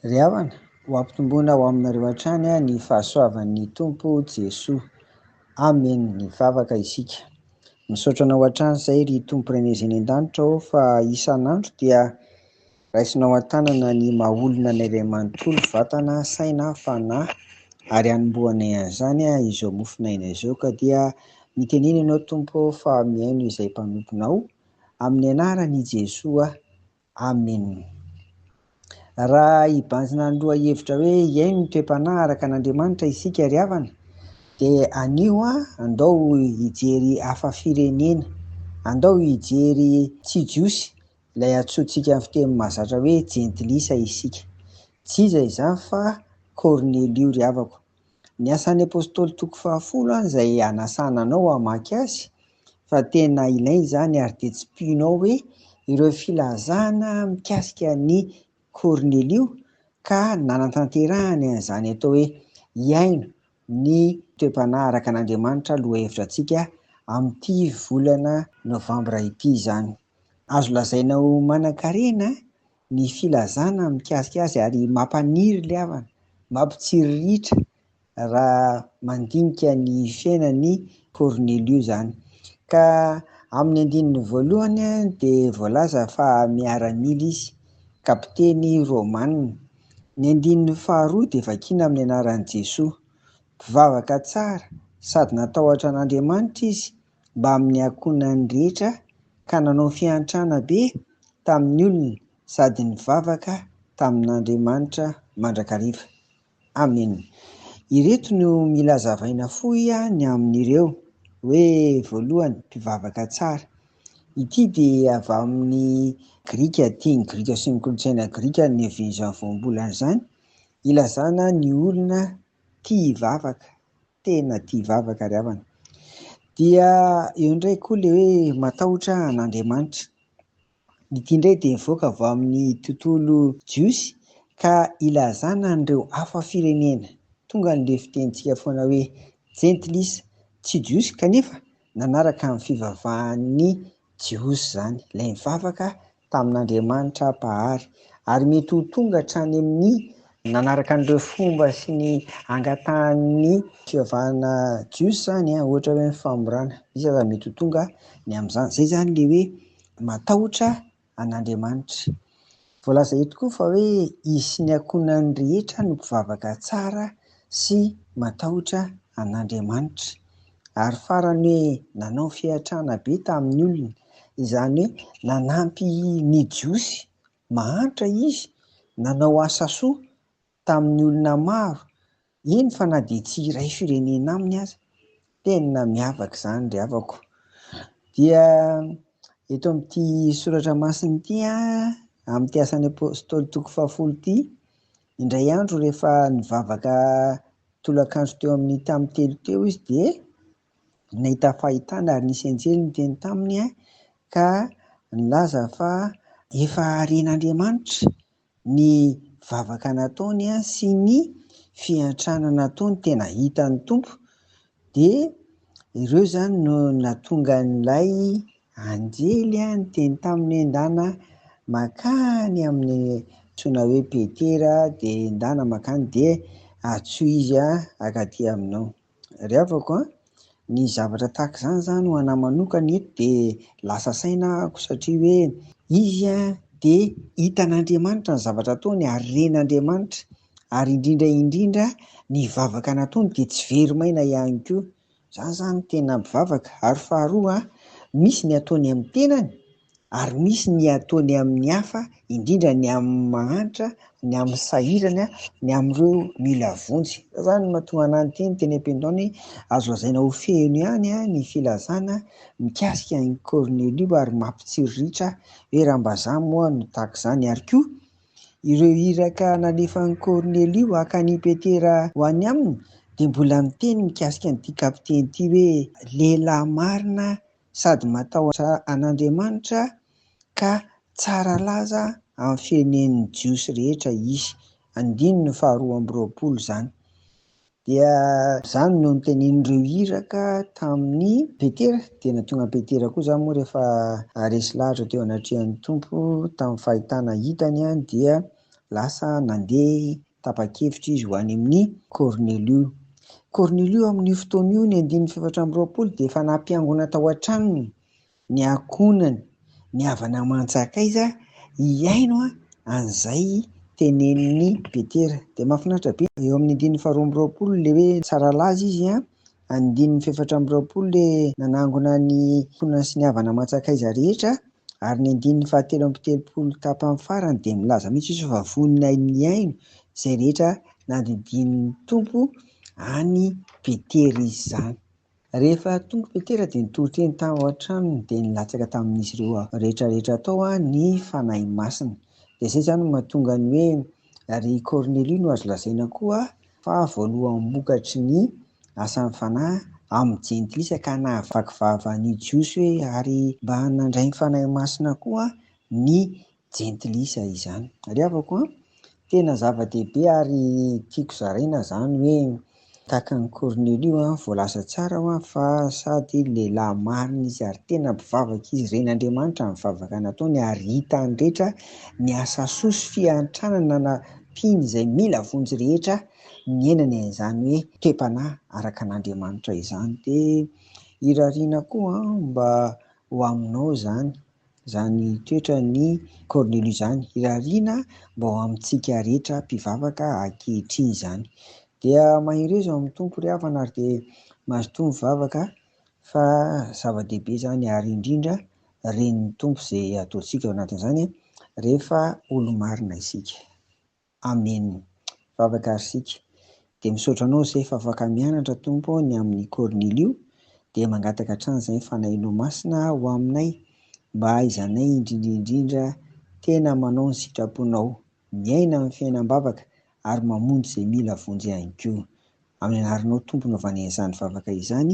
Ry havana, ho ampitomboina ho aminareo hatrany ny fahasoavan'ny Tompo Jesoa. Amen! Mivavaka isika. Misaotra anao hatrany izay ry Tompo Renez eny an-danitra ô fa isan'andro dia Raisinao an-tanana ny maha-olona ny iray manontolo, vatana, saina, fanahy, ary hanombohana ian'izany izao mofonaina izao, ka dia mitenena ianao Tompo ô fa mihaino izay mpanomponao amin'ny anaran' i Jesoa, Amena. Raha hibanjina ny lohahevitra hoe hihaino ny toe-panahy araka an' Andriamanitra isika ry havana dia anio andao hijery hafa firenena, andao hijery tsy jiosy Ilay antsointsika amin'ny fiteny mahazatra hoe jentilisa isika. Tsy iza izany fa Kornelio ry havako. Ny Asan'ny Apostoly toko fahafolo any izay hanasana anao hamaky azy fa tena ilaina izany ary dia tsipihinao hoe ireo filazana mikasika an'i Kornelio ka nanatanterahany an'izany atao hoe hihaino ny toe-panahy araka an'Andriamanitra lohahevitra antsika amin'ity volana novambra ity izany. Azo lazaina ho manankarena ny filazana mikasika azy ary mampaniry ilay havana, mampitsiriritra raha mandinika ny fiainan'i Kornelio izany. Ka amin'ny andininy voalohany dia voalaza fa miaramila izy, kapiteny romanina. Ny andininy faharoa dia vakina amin'ny anaran'i Jesoa. Mpivavaka tsara sady natahotra an'Andriamanitra izy mbamin'ny ankohonany rehetra ka nanao fiantrana be tamin'ny olona sady nivavaka tamin'Andriamanitra mandrakariva. Amena. Ireto no mila azavaina fohy ny amin'ireo hoe, voalohany, mpivavaka tsara. Ity dia avy amin'ny grika, tian'ny grika sy ny kolontsaina grika ny niavian'izany voambolana izany, ilazana ny olona tia hivavaka, tena tia hivavaka ry havana. Dia eo indray koa ilay hoe matahotra an'Andriamanitra. Ity indray dia nivoaka avy amin'ny tontolo jiosy ka ilazana an'ireo hafa firenena. Tonga an'ilay fitenintsika foana hoe gentlis, tsy jiosy kanefa Nanaraka ny fivavahan'ny Jiosy izany, ilay nivavaka tamin'Andriamanitra Mpahary, ary mety ho tonga hatrany amin'ny. Nanaraka an'ireo fomba sy ny angatahan'ny. Fivavahana Jiosy izany, ohatra hoe ny famorana. Misy aza mety ho tonga ny amin'izany. Izay izany ilay hoe matahotra an'Andriamanitra. Voalaza eto koa fa hoe izy sy ny ankohonany rehetra no mpivavaka tsara sy matahotra an'Andriamanitra. Ary farany hoe nanao fiantrana be tamin'ny olona, izany hoe nanampy ny Jiosy mahantra izy, nanao asa soa tamin'ny olona maro, eny fa na dia tsy iray firenena aminy aza, tena miavaka izany ry havako. Dia eto amin'ity soratra masina ity, amin'ity asan'ny apostoly toko fahafolo ity, indray andro rehefa nivavaka tolakandro teo amin'ny tamin'ny telo teo izy dia nahita fahitana ary nisy anjely niteny taminy ka nilaza fa efa ren'Andriamanitra Ny vavaka nataony sy ny fiantrana nataony tena hitan'ny Tompo dia ireo izany no nahatonga an'ilay anjely niteny taminy hoe endana makany amin'ny antsoina hoe Petera dia endana makany dia atsohiza akaty aminao. Ry havako a, ny zavatra tahaka izany za no anah manokana eto de lasa saina ahako satria hoe izy a de hitan'Andriamanitra ny zavatra ataony ary ren'Andriamanitra ary indrindra indrindra ny vavaka nataony de tsy very maina ihany koa. Za zany tena mpivavaka ary faharoa a, misy ny ataony amin'ny tenany ary misy ny ataony amin'ny hafa, indrindra ny amin'ny mahantra, ny amin'ny sahirana, ny amin'ireo mila vonjy. Izay izany no mahatonga anà niteny teny am-pindao ny hoe, Azo lazaina ho feno ihany ny filazana mikasika an'i Kornelio ary mampitsiriritra hoe Rambazaha moa no tahaka izany. Ary koa, ireo iraka nalefan'i Kornelio haka an'i Petera ho any aminy dia mbola niteny mikasika an'ity kapiteny ity hoe, Lehilahy marina sady matahotra an'Andriamanitra ka tsara laza amin'ny firenen'ny Jiosy rehetra izy. Andininy faharoa amby roapolo izany. Dia izany no nitenenin'ireo iraka tamin'i Petera, dia natonga an'i Petera koa izany moa rehefa resy lahatra teo anatrehan'ny Tompo tamin'ny fahitana hitany dia. Lasa nandeha tapa-kevitra izy ho any amin'i Kornelio. Kornelio amin'io fotoana io, ny andininy fahefatra amby roapolo, dia efa nampiangona tao an-tranony ny ankohonany, ny havana aman-tsakaiza, hihaino an'izay tenenin'i Petera. Dia mahafinaritra be, eo amin'ny andininy faharoa amby roapolo, ilay hoe, Tsara laza izy an! Andininy fahefatra amby roapolo le nanangona ny Ankohonana sy ny Havana aman-tsakaiza rehetra ary ny andininy fahatelo amby telopolo tapany farany dia milaza mihitsy izy fa vonona haino ny haino izay rehetra nandidian'ny Tompo an'i Petera izy izany. Rehefa tonga i Petera dia nitory teny tao an-tranony dia nilatsaka tamin'izy ireo rehetra rehetra tao ny Fanahy Masina. Dia izay izany no mahatonga ny hoe Ary i Kornelio no azo lazaina koa fa voaloham-bokatry ny asan'ny Fanahy amin'ny Jentilisa ka nahavaky vava ny Jiosy hoe ary mba nandray ny Fanahy Masina koa ny Jentilisa izany. Ariavako an! Tena zava-dehibe ary tiako zaraina izany hoe Tahaka an'i Kornelio an, voalaza tsara hoa fa sady lehilahy marina izy ary tena mpivavaka izy, ren'Andriamanitra ny vavaka nataony ary hita any rehetra ny asa soa sy fiantrànana nampiany izay mila vonjy rehetra niainany an'izany hoe toe-panahy araka an'Andriamanitra izany dia irariana koa an mba ho aminao izany. izany toetran'i Kornelio izany, irariana mba ho amintsika rehetra mpivavaka ankehitriny izany. Dia mahereza ao amin'ny Tompo ry havana ary dia mazotoa mivavaka fa zava-dehibe izany ary indrindra ren'ny Tompo izay ataontsika ao anatin'izany rehefa olo-marina isika. Amen vavaka ary sika de misaotra anao zay fa afaka mianatra Tompo ny aminy Cornilio de mangataka hatrany zay ny fanahinao masina ho aminay mba hahaizanay indrindrindrindra tena manao ny sitraponao miaina aminy fiainam bavaka ary mamonjy zay mila vonjy ihany koa aminy anaranao Tompo no vanen'izany vavaka izany